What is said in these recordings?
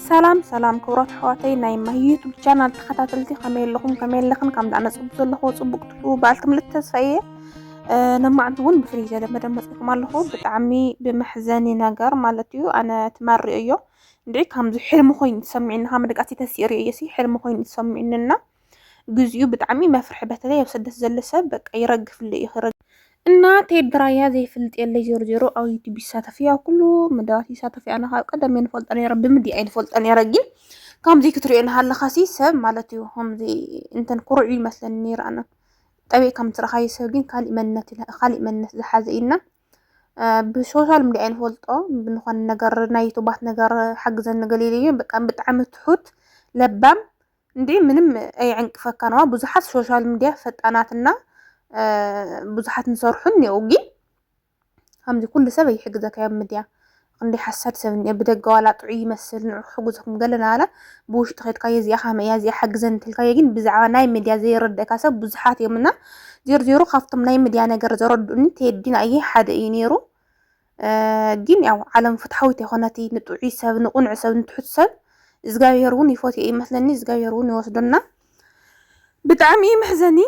ሰላም ሰላም ክብራት ኣሕዋተይ ናይ ማሂ ዩቱብ ቻናል ተኸታተልቲ ከመይ ኣለኹም ከመይ ኣለኽን ካብ ዳዕነ ፅቡቅ ዘለኹ ፅቡቅ ትሑ በዓልቲ ምልእቲ ተስፋ እየ ነማዕንቲ እውን ብፍልይ ዘለ መደብ መፅእኩም ኣለኹ ብጣዕሚ ብመሕዘኒ ነገር ማለት እዩ ኣነ ትመሪኦ እዮ እንድዒ ከምዚ ሕልሚ ኮይኑ ዝሰሚዕኒ ካብ መደቃሲ ተሲእሪኦ እዮ ሲ ሕልሚ ኮይኑ ዝሰሚዕንና ግዚኡ ብጣዕሚ መፍርሒ በተለይ ኣብ ስደት ዘሎ ሰብ በቃ ይረግፍሉ እዩ ክረግ እና ቴዲ ራያ ዘይፍልጥ የለይ ዜሮ ዜሮ ኣብ ዩቱብ ይሳተፍ እዩ ኣብ ኩሉ መደባት ይሳተፍ እዩ ኣነ ካብ ቀደም እየ ንፈልጦ ነረ ብምድያ እየ ንፈልጦ ነረ ግን ከምዚ ክትሪኦ ናሃለካ ሲ ሰብ ማለት እዩ ከምዚ እንተን ኩርዑ ይመስለኒ ነረ ኣነ ጠቢቅ ከም ትረካየ ሰብ ግን ካሊእ መንነት እዩ ካሊእ መንነት ዝሓዘ እዩና ብሶሻል ሚዲያ ንፈልጦ ብንኾነ ነገር ናይ ዩቱባት ነገር ሓግዘኒ ገሊሉ እዩ በቃ ብጣዕሚ ትሑት ለባም እንዴ ምንም ኣይዕንቅፈካን ዋ ብዙሓት ሶሻል ሚዲያ ፈጣናትና ብዙሓት ንሰርሑን እኒኦ ግን ከምዚ ኩሉ ሰብ ኣይሕግዘካ ኣብ ምድያ ክንደይ ሓሳድ ሰብ እኒኦ ብደገ ዋላ ጥዑይ ይመስል ንዑ ክሕግዘኩም ገለና ዋላ ብውሽጢ ከድካ የዚኣ ከመይ እያ እዚኣ ሓግዘን እንትልካዮ ግን ብዛዕባ ናይ ምድያ ዘይረደእካ ሰብ ብዙሓት እዮም እና ዜሮ ዜሮ ካብቶም ናይ ምድያ ነገር ዘረድኡኒ ቴዲን ኣየ ሓደ እዩ ነይሩ ግን ያው ዓለም ፍትሓዊት የኮነት ንጥዑይ ሰብ ንቁንዕ ሰብ ንትሑት ሰብ እግዚኣብሄር እውን ይፎትዮ ይመስለኒ እግዚኣብሄር እውን ይወስዶና ብጣዕሚ እዩ መሕዘኒ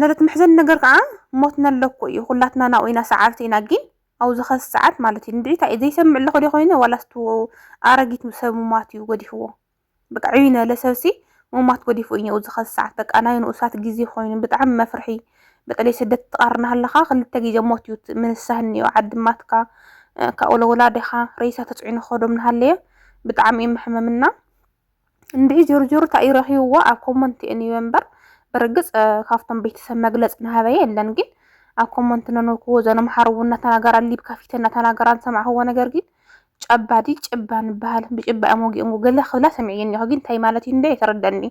ነረት መሕዘኒ ነገር ከዓ ሞት ነለኮ እዩ ኩላትና ናብኡ ኢና ሰዓርቲ ኢና ግን ኣብ ዝኸስ ሰዓት ማለት እዩ ንድዒታ እዩ ዘይሰምዕ ኣለኹ ዶ ኮይነ ዋላስቱ ኣረጊት ሰብ ሙማት እዩ ገዲፍዎ በቃ ዕብይ ነለ ሰብሲ ሙማት ጎዲፉ እኘኡ ዝኸዚ ሰዓት በቃ ናይ ንኡሳት ግዜ ኾይኑ ብጣዕሚ መፍርሒ በተለይ ስደት ትቃር ናሃለኻ ክልተ ግዜ ሞት እዩ ምንሳህ እኒኦ ዓዲ ማትካ ካብኡ ለወላዲኻ ሬሳ ተፅዒኑ ክኸዶም ናሃለየ ብጣዕሚ እዩ መሕመም እና እንድዒ ጆርጆር ታእዩ ረኺብዎ ኣብ ኮመንት እየ ኒበ እምበር ብርግፅ ካብቶም ቤተሰብ መግለፅ ናሃበየ የለን ግን ኣብ ኮመንት ነንብክዎ ዘነምሓርቡ እናተናገራ ሊብ ከፊተ እናተናገራ ዝሰማዕኽዎ ነገር ግን ጨባ ድዩ ጭባ ንበሃል ብጭባ እዮም ወጊኦምዎ ገለ ክብላ ሰሚዐዮ እኒሀ ግን እንታይ ማለት እዩ እንዶ ኣይተረደኣኒ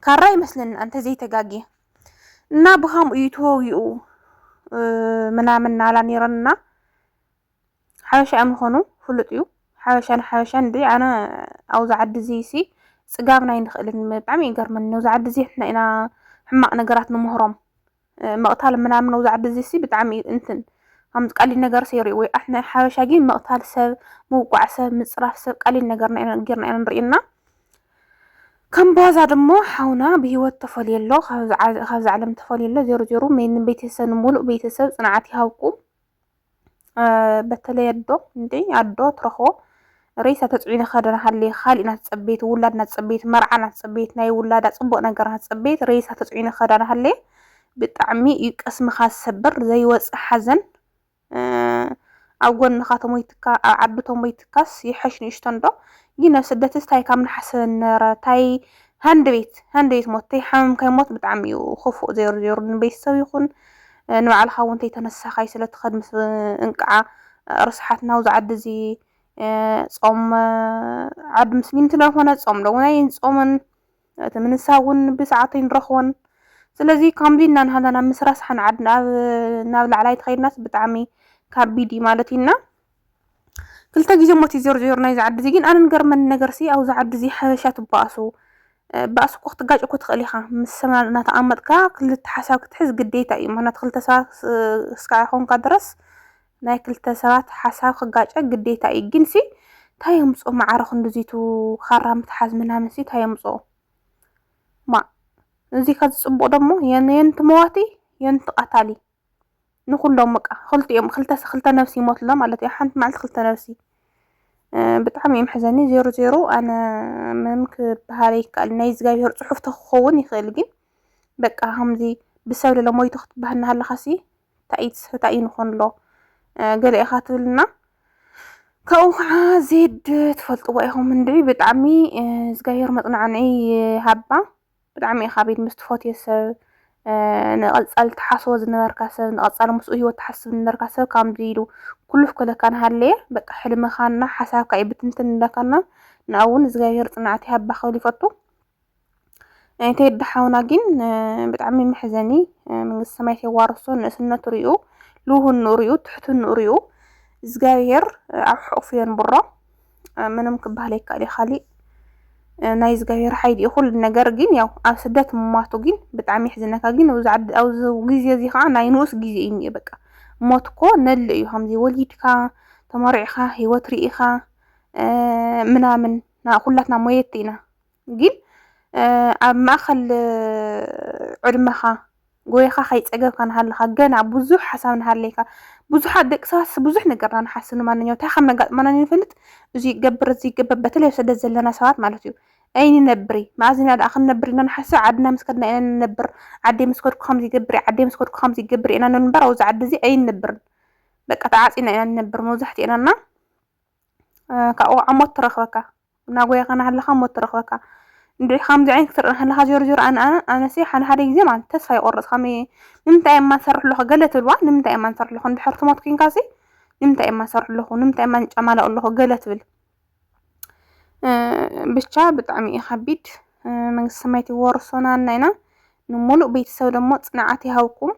ካራ ይመስለኒ ኣንተዘይ ተጋግየ እና ብከምኡ እዩ ተወጊኡ ምናምን ናላ ነይረና ሓበሻ እዮም ዝኾኑ ፍሉጥ እዩ ሓበሻ ንሓበሻ እንዲ ኣነ ኣብዚ ዓዲ እዚ ሲ ፅጋብና ኣይንኽእልን ብጣዕሚ ይገርመኒ ኣብዚ ዓዲ እዚ ንሕና ኢና ሕማቅ ነገራት ንምህሮም መቅታል ምናምን ነው ዛዕብ እዚ ሲ ብጣዕሚ እንትን ከምዚ ቀሊል ነገር ሰይሩ ወይ ኣሕና ሓበሻ ግን መቅታል ሰብ ምውቋዕ ሰብ ምፅራፍ ሰብ ቀሊል ነገር ጌርና ኢና ንርእና ከም ቧዛ ድሞ ሓውና ብሂወት ተፈልዮ ኣሎ ካብዚ ዓለም ተፈልዮ ኣሎ ዜሮ ዜሮ ቤተሰብ ንሙሉእ ቤተሰብ ፅንዓት ይሃብኩም በተለይ ኣዶ እንዴ ኣዶ ትረኽቦ ሬሳ ተፅዒኑ ክኸደ ሃልየ ካሊእ ናትፀበየት ውላድ ናትፀበየት መርዓ ናትፀበየት ናይ ውላዳ ፅቡቅ ነገር ናትፀበየት ሬሳ ተፅዒኑ ክኸዳ ሃልየ ብጣዕሚ እዩ ቅስምኻ ዝሰብር ዘይወፅእ ሓዘን ኣብ ጎንኻ ተሞይትካ ኣብ ዓዲ ተሞይትካስ ይሐሽ ንእሽቶ እንዶ ግን ኣብ ስደትስ ታይ ካብ ንሓስበ ንረ ታይ ሃንደቤት ሃንደቤት ሞት ተይሓመምካይ ሞት ብጣዕሚ እዩ ኹፉእ ዜሩ ዜሩ ንቤተሰብ ይኹን ንባዕልኻ እውን ተይተነሳኻይ ስለ ትኸድ ምስ እንቅዓ ርስሓት ናውዚ ዓዲ እዚ ጾም ዓዲ ምስሊም ስለ ዝኾነ ጾም ዶ እውን ኣይንጾምን እቲ ምንሳእ እውን ብሰዓቱ ኣይንረኽቦን ስለዚ ከምዚ እና ናሃለና ምስ ረስሓና ዓድና ኣብ ናብ ላዕላይ ተኸይድናስ ብጣዕሚ ካቢድ እዩ ማለት እዩ እና ክልተ ግዜ ሞት እዩ ዜሩ ዜሩ ናይዚ ዓዲ እዚ ግን ኣነ ንገርመኒ ነገርሲ ኣብዚ ዓዲ እዚ ሓበሻ ትበኣሱ ባእሲ እኮ ክትጋጭ እኮ ትኽእል ኢኻ ምስ ሰብ እናተቐመጥካ ክልተ ሓሳብ ክትሕዝ ግዴታ እዩ ምክንያቱ ክልተ ሰባት እስካዕ ይኾንካ ድረስ ናይ ክልተ ሰባት ሓሳብ ክጋጨ ግዴታ እዩ ግንሲ እንታይ የምፆ ማዕረ ክንዲዚቱ ካራ ምትሓዝ ምናምንሲ እንታይ የምፆ ማ እዚ ከዚ ፅቡቕ ደሞ የንቲ መዋቲ የንቲ ቀታሊ ንኹሎም በቃ ክልቲኦም ክልተ ክልተ ነብሲ ይሞት ኣሎ ማለት እዩ ሓንቲ መዓልቲ ክልተ ነብሲ ብጣዕሚ እዩ መሕዘኒ ዜሮ ዜሮ ኣነ ምንም ክበሃል ይከኣል ናይ እግዚኣብሄር ፅሑፍ ተክኸውን ይኽእል ግን በቃ ከምዚ ብሰብ ለለ ሞይቱ ክትበሃል እናሃለኻሲ እንታይ እዩ እንታይ እዩ ንኾን ኣሎ ገለ ኢኻ ትብልና ካብኡ ከዓ ዜድ ትፈልጥዎ ኢኹም እንድዒ ብጣዕሚ እግዚኣብሄር መፅናዕንዒ ይሃባ ብጣዕሚ ኢኻ ቤት ምስ ትፈትዮ ሰብ ንቐጻሊ ትሓስቦ ዝነበርካ ሰብ ንቐጻሊ ምስኡ ሂወት ትሓስብ ዝነበርካ ሰብ ካምዚ ኢሉ ኩሉፍ ክብለካ ንሃለየ በቃ ሕልምኻና ሓሳብካ እዩ ብትንትን ዝብለካና ንኣ እውን እግዚኣብሄር ጽንዓት ይሃባ ክብል ይፈቱ ቴዲ ሓውና ግን ብጣዕሚ መሕዘኒ መንግስቲ ሰማያት የዋርሶ ንእስነቱ ሪኡ ልውህንኡ ሪኡ ትሕትንኡ ሪኡ እግዚኣብሄር ኣብ ሕቑፉ የንብሮ ምንም ክበሃል ኣይከኣል እዩ ካሊእ ናይ እግዚኣብሔር ሓይሊ እዩ ኩሉ ነገር ግን ያው ኣብ ስደት ምሟቱ ግን ብጣዕሚ የሕዝነካ ግን ኣብዚ ግዜ እዚ ከዓ ናይ ንኡስ ግዜ እዩ እኒኦ በቃ ሞት እኮ ነሎ እዩ ከምዚ ወሊድካ ተመሪዕካ ሂወት ርኢኻ ምናምን ኩላትና ሞየቲ ኢና ግን ኣብ ማእከል ዕድመኻ ጎይኻ ከይጸገብካ ንሃለኻ ገና ብዙሕ ሓሳብ ንሃለይካ ብዙሓት ደቂ ሰባት ብዙሕ ነገርና ንሓስብ ንማንኛው እንታይ ከም ነጋጥመና ንፈልጥ እዚ ይገብር እዚ ይገብር በተለይ ኣብ ስደት ዘለና ሰባት ማለት እዩ ኣይንነብሪ መኣዝ ኢና ደኣ ክንነብር ኢና ንሓስብ ዓድና ምስ ከድና ኢና ንነብር ዓደይ ምስ ከድኩ ከምዚ ይገብር እየ ዓደይ ምስ ከድኩ ከምዚ ይገብር ኢና ንብል እምበር ኣብዚ ዓዲ እዚ ኣይንነብርን በቃ ተዓጺና ኢና ንነብር መብዛሕትኤናና ካብኡ ከዓ ሞት ትረክበካ እናጎየኻ እናሃለኻ ሞት ትረክበካ እንድዒ ከምዚ ዓይነት ክትርኢ እናሃለኻ ዜሮ ዜሮ ኣነ ኣነ ኣነሲ ሓደ ሓደ ግዜ ማለት ተስፋ ይቆርፅ ከመይ እየ ንምንታይ እየማ ዝሰርሕ ኣለኹ ገለ ትብልዋ ንምንታይ እየማ ዝሰርሕ ኣለኹ እንድሕር ትሞት ኮይንካሲ ንምንታይ እየማ ዝሰርሕ ኣለኹ ንምንታይ እየማ ንጫማላኡ ኣለኹ ገለ ትብል ብቻ ብጣዕሚ እዩ ከቢድ መንግስተ ሰማያት ይወርሶናልና ኢና ንሙሉእ ቤተሰብ ደሞ ፅንዓት ይሃብኩም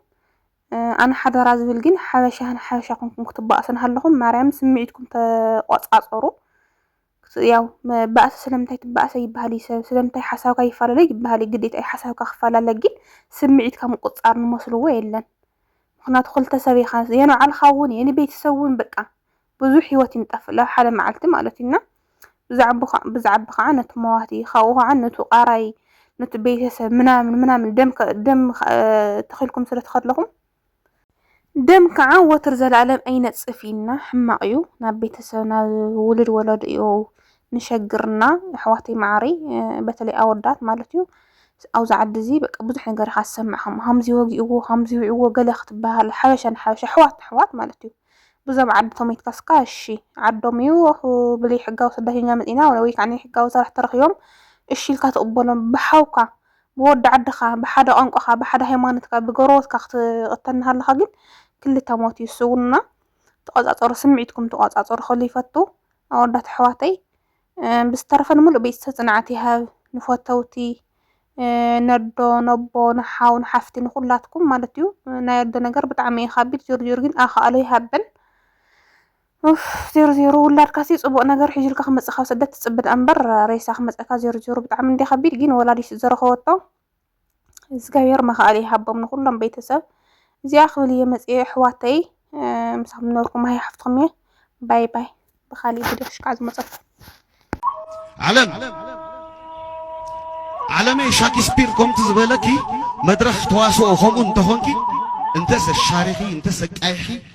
ኣነ ሓደራ ዝብል ግን ሓበሻ ንሓበሻ ኮንኩም ክትባኣሱ እናሃለኹም ማርያም ስምዒትኩም ተቆጻጸሩ። ያው ባእሲ ስለምንታይ ትባእሰ ይበሃል እዩ ሰብ ስለምንታይ ሓሳብካ ይፈላለ ይበሃል እዩ ግዴታ እዩ ሓሳብካ ክፈላለ ግን ስምዒትካ ምቁጽጻር ንመስልዎ የለን ምክንያቱ ክልተ ሰብ ኢኻ የንባዕልኻ እውን የንቤተሰብ እውን በቃ ብዙሕ ህይወት እዩ ዝጠፍእ ላብ ሓደ መዓልቲ ማለት እዩ እና ብዛዕብ ከዓ ነቲ መዋቲ ካብኡ ከዓ ነቱ ቃራይ ነቲ ቤተሰብ ምናምን ምናምን ደም ደም ተኺልኩም ስለ ተኸለኹም ደም ከዓ ወትር ዘለኣለም ኣይነጽፍ እዩና ሕማቕ እዩ ናብ ቤተሰብ ናብ ውሉድ ወለዱ እዩ ንሸግርና ኣሕዋተይ መዓረይ በተለይ ኣወዳት ማለት እዩ ኣብዚ ዓዲ እዚ በቃ ብዙሕ ነገር ኢኻ ዝሰምዕ ከም ከምዚ ወጊእዎ ከምዚ ውዕዎ ገለ ክትበሃል ሓበሻ ንሓበሻ ኣሕዋት ንኣሕዋት ማለት እዩ ብዞም ዓዲ ተሞይትካስ እካ እሺ ዓዶም እዩ ብለይ ሕጋዊ ስደተኛ መጺና ወይ ከዓ ናይ ሕጋዊ ሰራሕ ተረኪቦም እሺ ኢልካ ትቕበሎም ብሓውካ ብወዲ ዓድኻ ብሓደ ቋንቋኻ ብሓደ ሃይማኖትካ ብጎረቦትካ ክትቕተል እናሃለኻ ግን ክልተ ሞት እዩ እሱ እውን እና ተቆጻጸሩ ስምዒትኩም ተቆጻጸሩ ክብል ይፈቱ ኣወዳት ኣሕዋተይ ብዝተረፈ ንምሉእ ቤተሰብ ጽንዓት ይሃብ ንፈተውቲ ነዶ ነቦ ንሓው ንሓፍቲ ንኩላትኩም ማለት እዩ ናይ ኣዶ ነገር ብጣዕሚ እዩ ከቢድ ዜሩ ዜሩ ግን ኣኻእሎ ይሃበን ዜሩ ዜሩ ውላድካ ሲ ጽቡቅ ነገር ሒዙልካ ክመጽእ ካብ ስደት ትጽብድ ኣንበር ሬሳ ክመጸካ ዜሩ ዜሩ ብጣዕሚ እንዲ ከቢድ ግን ወላዲት ዘረኸወቶ እግዚኣብሔር መኽኣል ይሃቦም ንኹሎም ቤተሰብ እዚኣ ክብል እየ መፅየ ኣሕዋተይ ምሳኹም ዝነበርኩም ሃይ ሓፍትኹም እየ ባይ ባይ ብካሊእ ቪድዮ ክሽካዕ ዝመፀኩ ዓለም ዓለመይ ሻክስፒር ከምቲ ዝበለኪ መድረኽ ተዋስኦ ከምኡ እንተኾንኪ እንተሰ ሻሪኺ እንተሰ ቃይሒ